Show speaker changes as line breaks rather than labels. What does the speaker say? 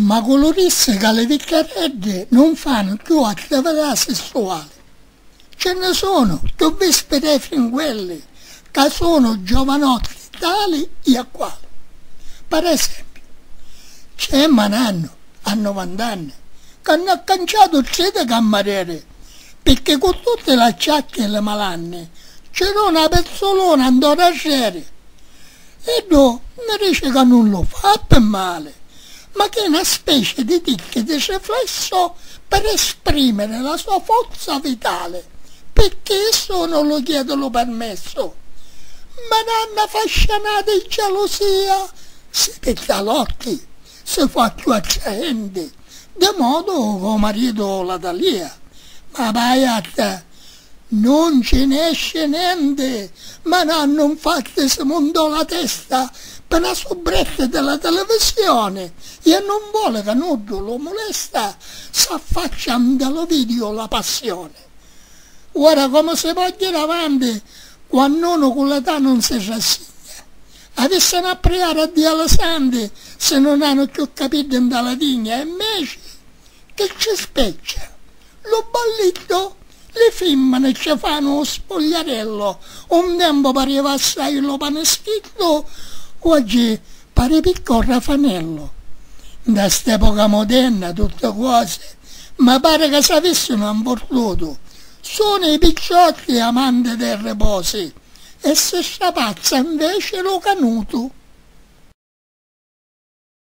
Ma cu lu dissi ca li vicchiareddi nun fannu cchiù attività sessuali, ci nni sunu ddu vispi dei fringuelli ca sunu giovanotti di tali i a quali. Per esempiu, c'è ma nannu a nuvant'anni ca nn'ha canciatu tri di cammarieri pirchì cu tutti l'acciacchi e li malanni ci duna pizzuluna nto rarreri. Iddu mi dici ca nun lu fa pi mali, ma ch'è na specie di ticchi di riflesso per esprimere la sua forza vitale, picchì issu nun lu chiedi lu permesso. Mi dà na fascianata di gelusia, si pigghia l'occhi, si fa cchiù attraenti, di modo ca 'o maritu la talia. Ma vaiatte, Non ci nesce nenti, ma nannu nfatti si mundò la testa pi na subretta di la televisioni i a nun voli ca nuddu lu mulesta s'affaccia nta lu vidiu La Passioni. Ora comu si pò jiri avanti quannu unu cu l'età nun si rassigna? Avissanu a priari a Dia li santi si nun hanu cchiù capiddi nta la tigna e mmeci Che c'è specchia lu balliddu? Li fimmini ci fanu u spogliarellu, un tempu pariva assai lu panischiddu, oggi pari picca u rafanellu. Nta st'epoca mudenna tutti cosi mi pari ca s'avissinu anfurdutu, sunu i picciotti amanti de riposi e si strapazza nveci lu canutu.